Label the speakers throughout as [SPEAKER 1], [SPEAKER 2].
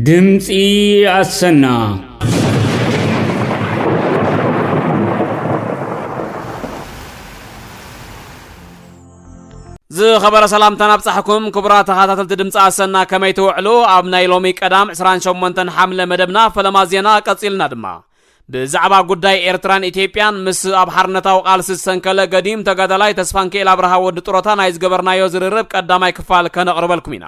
[SPEAKER 1] ድምፂ ኣሰና
[SPEAKER 2] ዝኸበረ ሰላምታ ናብጻሕኩም ክቡራት ተኸታተልቲ ድምፂ ኣሰና ከመይ ትውዕሉ ኣብ ናይ ሎሚ ቀዳም 28 ሓምለ መደብና ፈለማ ዜና ቀጺልና ድማ ብዛዕባ ጉዳይ ኤርትራን ኢትዮጵያን ምስ ኣብ ሓርነታዊ ቃልሲ ዝሰንከለ ገዲም ተጋዳላይ ተስፋንክኤል ኣብርሃ ወዲ ጥሮታ ናይ ዝገበርናዮ ዝርርብ ቀዳማይ ክፋል ከነቕርበልኩም ኢና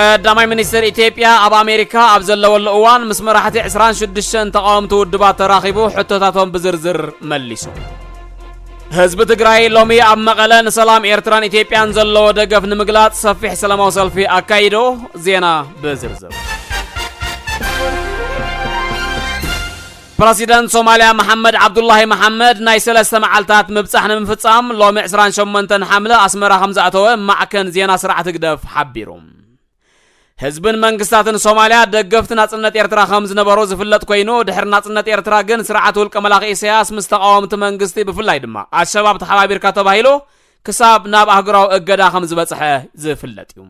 [SPEAKER 2] ቀዳማይ ሚኒስትር ኢትዮጵያ ኣብ ኣሜሪካ ኣብ ዘለወሉ እዋን ምስ መራሕቲ 26 ተቃወምቲ ውድባት ተራኺቡ ሕቶታቶም ብዝርዝር መሊሱ። ህዝቢ ትግራይ ሎሚ ኣብ መቐለ ንሰላም ኤርትራን ኢትዮጵያን ዘለዎ ደገፍ ንምግላጽ ሰፊሕ ሰላማዊ ሰልፊ ኣካይዶ። ዜና ብዝርዝር ፕረሲደንት ሶማልያ መሓመድ ዓብዱላሂ መሓመድ ናይ ሰለስተ መዓልታት ምብጻሕ ንምፍጻም ሎሚ ዕስራን ሸሞንተን ሓምለ ኣስመራ ከምዝኣተወ ማዕከን ዜና ስርዓት ህግደፍ ሓቢሩ። ህዝብን መንግስታትን ሶማልያ ደገፍቲ ናጽነት ኤርትራ ከምዝነበሩ ዝፍለጥ ኮይኑ ድሕሪ ናጽነት ኤርትራ ግን ስርዓት ውልቀ መላኺ ኢሰያስ ምስ ተቓወምቲ መንግስቲ ብፍላይ ድማ ኣልሸባብ ተሓባቢርካ ተባሂሉ ክሳብ ናብ ኣህጉራዊ እገዳ ከምዝበጽሐ ዝፍለጥ እዩ።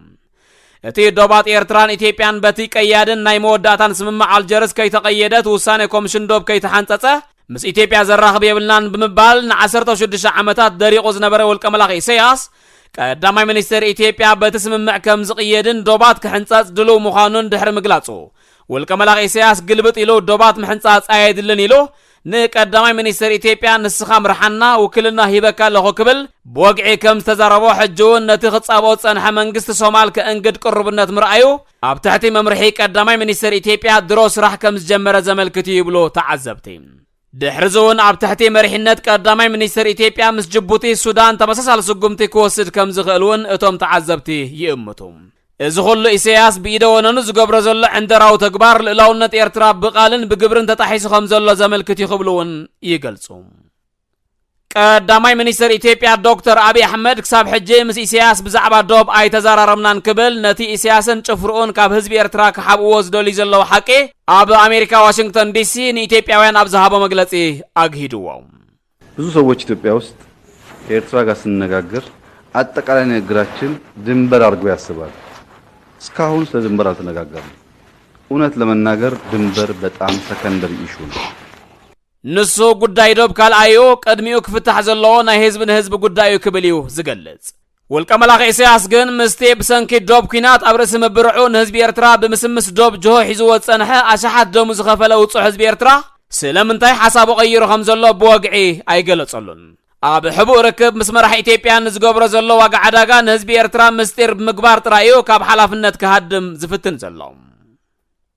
[SPEAKER 2] እቲ ዶባት ኤርትራን ኢትዮጵያን በቲ ቀያድን ናይ መወዳእታን ስምምዕ ኣልጀርስ ከይተቐየደት ውሳኔ ኮምሽን ዶብ ከይተሓንጸጸ ምስ ኢትዮጵያ ዘራኽብ የብልናን ብምባል ንዓሰርተው ሽዱሽተ ዓመታት ደሪቑ ዝነበረ ውልቀመላኺ ኢሰያስ ቀዳማይ ሚኒስተር ኢትዮጵያ በቲ ስምምዕ ከም ዝቕየድን ዶባት ክሕንጸጽ ድሉው ምዃኑን ድሕሪ ምግላጹ ውልቀመላኺ ኢሰያስ ግልብጥ ኢሉ ዶባት ምሕንጻጽ ኣየድልን ኢሉ ንቀዳማይ ሚኒስተር ኢትዮጵያ ንስኻ ምርሓና ውክልና ሂበካ ኣለኹ ክብል ብወግዒ ከም ዝተዛረቦ ሕጂ እውን ነቲ ክጻብኦ ዝጸንሐ መንግስቲ ሶማል ከእንግድ ቅሩብነት ምርኣዩ ኣብ ትሕቲ መምርሒ ቀዳማይ ሚኒስተር ኢትዮጵያ ድሮ ስራሕ ከም ዝጀመረ ዘመልክት እዩ ይብሉ ተዓዘብቲ። ድሕሪዚ እውን ኣብ ትሕቲ መሪሕነት ቀዳማይ ሚኒስተር ኢትዮጵያ ምስ ጅቡቲ፣ ሱዳን ተመሳሳሊ ስጉምቲ ክወስድ ከም ዝኽእል እውን እቶም ተዓዘብቲ ይእምቱ። እዚ ኹሉ ኢሰያስ ብኢደ ወነኑ ዝገብሮ ዘሎ ዕንደራዊ ተግባር ልእላውነት ኤርትራ ብቓልን ብግብርን ተጣሒሱ ከም ዘሎ ዘመልክት እዩ ክብሉ እውን ይገልጹ። ቀዳማይ ሚኒስተር ኢትዮጵያ ዶክተር ኣብይ ኣሕመድ ክሳብ ሕጂ ምስ ኢሰያስ ብዛዕባ ዶብ ኣይተዘራረብናን ክብል ነቲ ኢሰያስን ጭፍርኡን ካብ ህዝቢ ኤርትራ ክሓብእዎ ዝደልዩ ዘለዉ ሓቂ ኣብ ኣሜሪካ ዋሽንግተን ዲሲ ንኢትዮጵያውያን ኣብ ዝሃቦ መግለጺ ኣግሂድዎ። ብዙ
[SPEAKER 3] ሰዎች ኢትዮጵያ ውስጥ ከኤርትራ ጋር ስንነጋገር አጠቃላይ ንግግራችን ድንበር አድርጎ ያስባል። እስካሁን ስለ ድንበር አልተነጋገርንም። እውነት ለመናገር ድንበር በጣም ሰከንደሪ ኢሹ ነው። ንሱ ጉዳይ ዶብ ካልኣይ'ዩ፣ ቅድሚኡ ክፍታሕ ዘለዎ ናይ ህዝቢ ንህዝቢ ጉዳይ'ዩ ክብል እዩ ዝገልጽ። ውልቀ መላኺ ኢሳያስ ግን ምስቲ ብሰንኪ ዶብ ኲናት ኣብ ርእሲ ምብርዑ ንህዝቢ ኤርትራ ብምስምስ ዶብ ጅሆ ሒዝዎ ዝጸንሐ ኣሽሓት ደሙ ዝኸፈለ ውጹዕ ህዝቢ ኤርትራ ስለምንታይ ሓሳቡ ቀይሩ ከም ዘሎ ብወግዒ ኣይገለጸሉን። ኣብ ሕቡእ ርክብ ምስ መራሒ ኢትዮጵያ ንዝገብሮ ዘሎ ዋጋ ዕዳጋ ንህዝቢ ኤርትራ ምስጢር ብምግባር ጥራይ'ዩ ካብ ሓላፍነት ክሃድም ዝፍትን ዘሎ።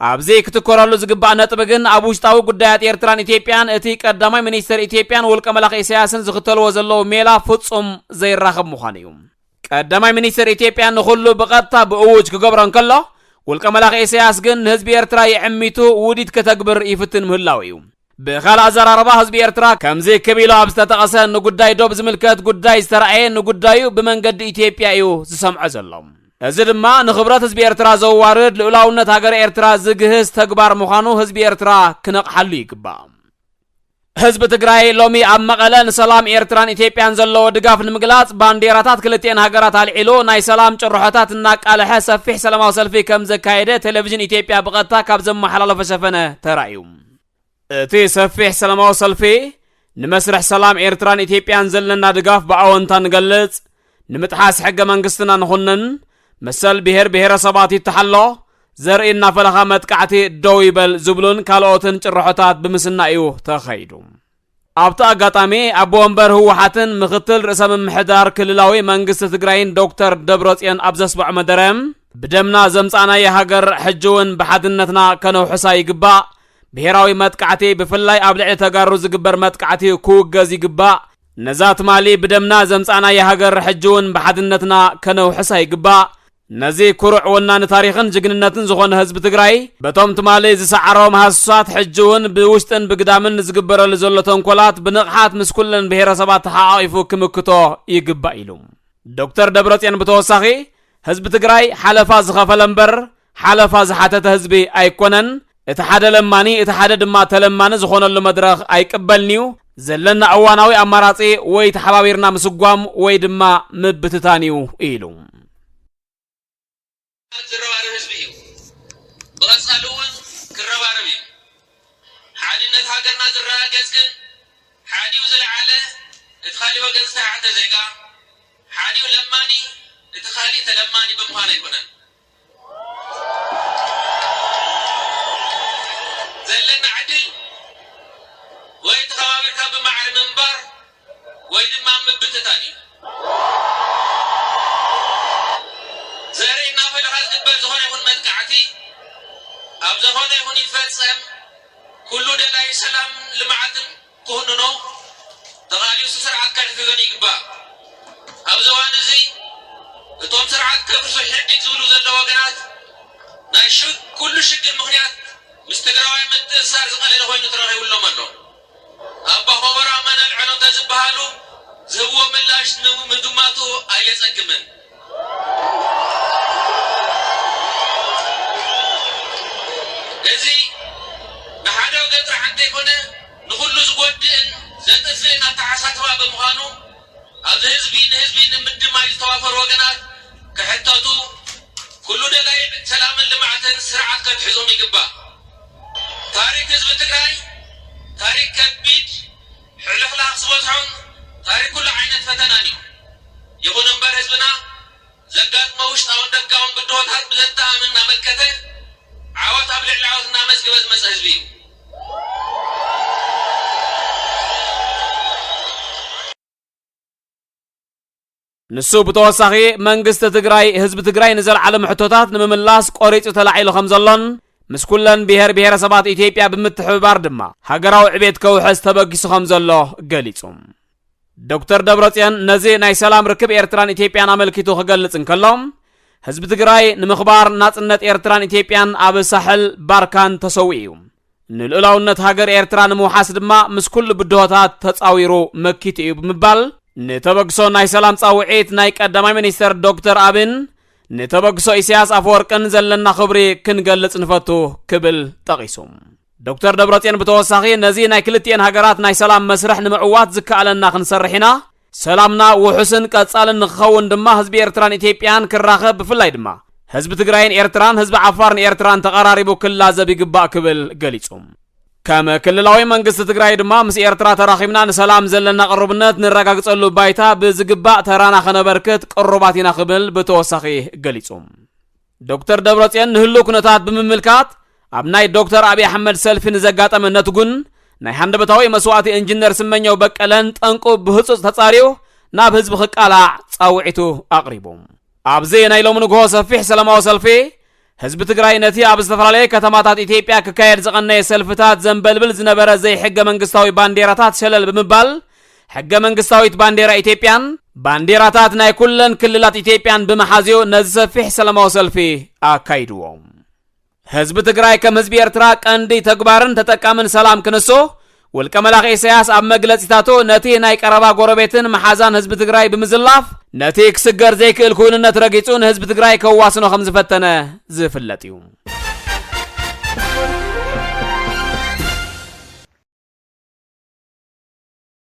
[SPEAKER 3] ኣብዚ ክትኮረሉ ዝግባእ ነጥቢ ግን ኣብ ውሽጣዊ ጉዳያት ኤርትራን ኢትዮጵያን እቲ ቀዳማይ ሚኒስተር ኢትዮጵያን ውልቀ መላኺ ኢሳያስን ዝኽተልዎ ዘለዉ ሜላ ፍጹም ዘይራኸብ ምዃኑ እዩ። ቀዳማይ ሚኒስተር ኢትዮጵያ ንኹሉ ብቐጥታ ብእዉጅ ክገብሮ እንከሎ፣ ውልቀ መላኺ ኢሳያስ ግን ንህዝቢ ኤርትራ የዕሚቱ ውዲት ከተግብር ይፍትን ምህላዉ እዩ። ብኻልእ ኣዘራርባ ህዝቢ ኤርትራ ከምዚ ክብ ኢሉ ኣብ ዝተጠቐሰ ንጉዳይ ዶብ ዝምልከት ጉዳይ ዝተራእየ ንጉዳዩ ብመንገዲ ኢትዮጵያ እዩ ዝሰምዖ ዘሎ። እዚ ድማ ንኽብረት ህዝቢ ኤርትራ ዘዋርድ ልኡላውነት ሃገረ ኤርትራ ዝግህስ ተግባር ምዃኑ ህዝቢ ኤርትራ ክነቕሓሉ ይግባእ። ህዝቢ ትግራይ ሎሚ ኣብ መቐለ ንሰላም ኤርትራን ኢትዮጵያን ዘለዎ ድጋፍ ንምግላጽ ባንዴራታት ክልቲኤን ሃገራት ኣልዒሉ ናይ ሰላም ጭርሖታት እናቃለሐ ሰፊሕ ሰላማዊ ሰልፊ ከምዘካየደ ቴሌቪዥን ኢትዮጵያ ብቐጥታ ካብ ዘመሓላለፎ ሸፈነ ተራእዩ። እቲ ሰፊሕ ሰላማዊ ሰልፊ ንመስርሕ ሰላም ኤርትራን ኢትዮጵያን ዘለና ድጋፍ ብኣወንታ ንገልጽ፣ ንምጥሓስ ሕገ መንግስትና ንኹንን፣ መሰል ብሄር ብሄረሰባት ይተሓሎ፣ ዘርኢ እናፈለኻ መጥቃዕቲ ደው ይበል ዝብሉን ካልኦትን ጭርሖታት ብምስናይ እዩ ተኸይዱ። ኣብቲ
[SPEAKER 2] ኣጋጣሚ ኣቦ ወንበር ህወሓትን ምኽትል ርእሰ ምምሕዳር ክልላዊ መንግስቲ ትግራይን ዶክተር ደብረፅዮን ኣብ ዘስምዖ መደረ ብደምና ዘምፃእናያ ሃገር ሕጂ እውን ብሓድነትና ከነውሕሳ ይግባእ ብሄራዊ መጥቃዕቲ ብፍላይ ኣብ ልዕሊ ተጋሩ ዝግበር መጥቃዕቲ ክውገዝ ይግባእ ነዛ ትማሊ ብደምና ዘምፃእናያ ሃገር ሕጂ እውን ብሓድነትና ከነውሕሳ ይግባእ ነዚ ኩሩዕ ወናኒ ታሪኽን ጅግንነትን ዝኾነ ህዝቢ ትግራይ በቶም ትማሊ ዝሰዓሮም ሃሱሳት ሕጂ እውን ብውሽጥን ብግዳምን ንዝግበረሉ ዘሎ ተንኮላት ብንቕሓት ምስ ኩለን ብሄረሰባት ተሓቛቒፉ ክምክቶ ይግባእ ኢሉ። ዶክተር ደብረፅዮን ብተወሳኺ ህዝቢ ትግራይ ሓለፋ ዝኸፈለ እምበር ሓለፋ ዝሓተተ ህዝቢ ኣይኮነን፣ እቲ ሓደ ለማኒ እቲ ሓደ ድማ ተለማኒ ዝኾነሉ መድረኽ ኣይቅበልን'ዩ። ዘለና እዋናዊ ኣማራጺ ወይ ተሓባቢርና ምስጓም ወይ ድማ ምብትታን'ዩ ኢሉ። ዝረባረብ ህዝቢ እዩ
[SPEAKER 3] ብቐፃሊ እውን ክረባረብ እዩ ሓድነት ሃገርና ዝረጋገፅ ግን ሓዲኡ ዝለዓለ እቲ ካሊእ ወገን ዝተሓተ ዜጋ ሓዲኡ ለማኒ እቲ ካሊእ ተለማኒ ብምዃን ኣይኮነን። ዘለና ዕድል ወይ ተኸባቢርካ ብማዕረ ምንባር ወይ ድማ ምብትታን እዩ። ዘርኢ እናፈለኻ ዝግበር ዝኾነ ይኹን መጥቃዕቲ ኣብ ዘኾነ ይኹን ይፈፀም ኩሉ ደላዪ ሰላምን ልምዓትን ክኹንኖ ተኻእልዩ እዚ ስርዓት ከሕግገን ይግባእ። ኣብዚ እዋን እዚ እቶም ስርዓት ከፍርሱ ሕድግ ዝብሉ ዘለዉ ወገናት ናይ ኩሉ ሽግር ምኽንያት ምስ ትግራዋይ ምትእስሳር ዝቐለለ ኮይኑ ተረኺቡሎም ኣሎ። ኣባ ኾቦሮ ኣማኑኤል ዐሎም ተዝበሃሉ ዝህብዎ ምላሽ ንምግማቱ ኣየፀግምን። እዚ ንሓደ ወገን ጥራሕ እንተይኮነ ንኹሉ ዝጎድእን ዘጥፍእን ኣተሓሳስባ ብምዃኑ ኣብዚ ህዝቢ ንህዝቢ ንምድማይ ዝተዋፈሩ ወገናት ክሕተቱ ኩሉ ደላይ ሰላምን ልምዓትን ስርዓት ከትሕዞም ይግባእ። ታሪክ ህዝቢ ትግራይ ታሪክ ከቢድ ሕልኽላኽ ዝበዝሖን ታሪኽ ኩሉ ዓይነት ፈተናን እዩ። ይኹን እምበር ህዝብና ዘጋጥሞ ውሽጣውን ደጋውን ብድሆታት ብዘተኣማምን እናመከተ ዓወት ኣብ ልዕሊ ዓወት እናመዝግበ ዝመፀ ህዝቢ እዩ።
[SPEAKER 2] ንሱ ብተወሳኺ መንግስቲ ትግራይ ህዝቢ ትግራይ ንዘልዓሎም ሕቶታት ንምምላስ ቆሪፁ ተላዒሉ ከም ዘሎን ምስ ኩለን ብሄር ብሄረሰባት ኢትዮጵያ ብምትሕብባር ድማ ሃገራዊ ዕቤት ከውሕስ ተበጊሱ ከም ዘሎ ገሊፁ። ዶክተር ደብረፅዮን ነዚ ናይ ሰላም ርክብ ኤርትራን ኢትዮጵያን ኣመልኪቱ ክገልጽ እንከሎ ህዝቢ ትግራይ ንምኽባር ናጽነት ኤርትራን ኢትዮጵያን ኣብ ሳሕል ባርካን ተሰዊኡ እዩ። ንልኡላውነት ሃገር ኤርትራ ንምውሓስ ድማ ምስ ኩሉ ብድሆታት ተጻዊሩ መኪቱ እዩ ብምባል ንተበግሶ ናይ ሰላም ጻውዒት ናይ ቀዳማይ ሚኒስተር ዶክተር ኣብን ንተበግሶ ኢሳያስ ኣፈወርቅን ዘለና ክብሪ ክንገልጽ ንፈቱ ክብል ጠቒሱ ዶክተር ደብረጽዮን ብተወሳኺ ነዚ ናይ ክልቲኤን ሃገራት ናይ ሰላም መስርሕ ንምዕዋት ዝከኣለና ክንሰርሕ ኢና ሰላምና ውሑስን ቀጻልን ንክኸውን ድማ ህዝቢ ኤርትራን ኢትዮጵያን ክራኸብ ብፍላይ ድማ ህዝቢ ትግራይን ኤርትራን ህዝቢ ዓፋርን ኤርትራን ተቐራሪቡ ክላዘብ ይግባእ ክብል ገሊጹ። ከም ክልላዊ መንግስቲ ትግራይ ድማ ምስ ኤርትራ ተራኺብና ንሰላም ዘለና ቅሩብነት ንረጋግጸሉ ባይታ ብዝግባእ ተራና ከነበርክት ቅሩባት ኢና ክብል ብተወሳኺ ገሊጹ። ዶክተር ደብረጽዮን ንህሉው ኩነታት ብምምልካት ኣብ ናይ ዶክተር ኣብይ ኣሕመድ ሰልፊ ንዘጋጠመ ነትጉን ናይ ሃንደበታዊ መስዋእቲ ኢንጂነር ስመኘው በቀለን ጠንቁ ብህጹጽ ተጻርዩ ናብ ህዝቢ ክቃላዕ ጻውዒቱ ኣቕሪቡ። ኣብዚ ናይ ሎሚ ንግሆ ሰፊሕ ሰላማዊ ሰልፊ ህዝቢ ትግራይ ነቲ ኣብ ዝተፈላለየ ከተማታት ኢትዮጵያ ክካየድ ዝቐነየ ሰልፍታት ዘንበልብል ዝነበረ ዘይሕገ መንግስታዊ ባንዴራታት ሸለል ብምባል ሕገ መንግስታዊት ባንዴራ ኢትዮጵያን ባንዴራታት ናይ ኩለን ክልላት ኢትዮጵያን ብምሓዝዮ ነዚ ሰፊሕ ሰላማዊ ሰልፊ ኣካይድዎ። ህዝቢ ትግራይ ከም ህዝቢ ኤርትራ ቀንዲ ተግባርን ተጠቃምን ሰላም ክንሶ ውልቀ መላኺ ኢሳያስ ኣብ መግለጺታቱ ነቲ ናይ ቀረባ ጎረቤትን መሓዛን ህዝቢ ትግራይ ብምዝላፍ ነቲ ክስገር ዘይክእል ክውንነት ረጊጹ ንህዝቢ ትግራይ ከዋስኖ ከም ዝፈተነ ዝፍለጥ እዩ።